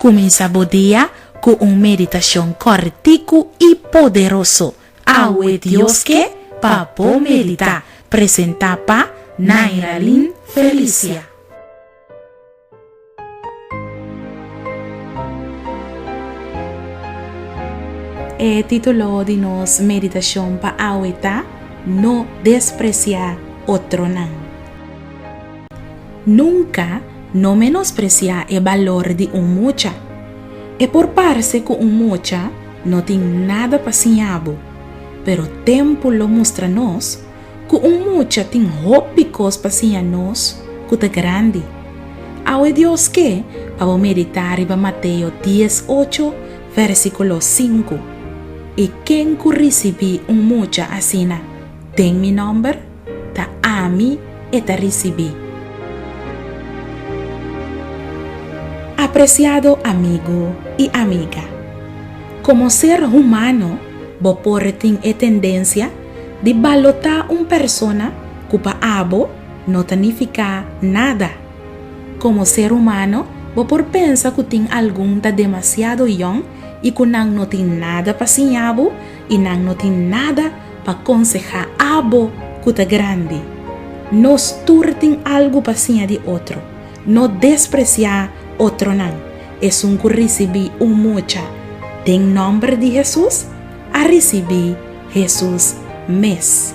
Cuminsa bo dia cu un meditacion corticu y poderoso Awe Dios Ke Pa Bo Medita! presenta pa Nairalyn Felicia. E título di nos meditacion pa awe ta No desprecia otronan. Nunca no menosprecia e balor di un mucha. E por parce cu un mucha no tin nada pa siña bo, pero tempu lo mustra nos ku un mucha tin hopi kos pa siña nos ku ta grandi. Awe Dios ke pa bo meditá riba Mateo dies ocho, vèrsikulo sinku, I ken ku risibí un mucha asina den mi nòmber, ta ami e ta risibí. Apresiado amigu i amiga, komo ser humano bo por tin e tendensia Di balotá un persona ku pa abo no ta nifiká nada. Komo ser humano bo por pensa ku tin algun ta demasiado yòn i ku nan no tin nada pa siñá bo i nan no tin nada pa konsehá abo ku ta grandi. Nos tur tin algu pa siña di otro. No despresiá otronan. Esun ku risibí un mucha den nòmber di Hesus a risibí Hesus mes.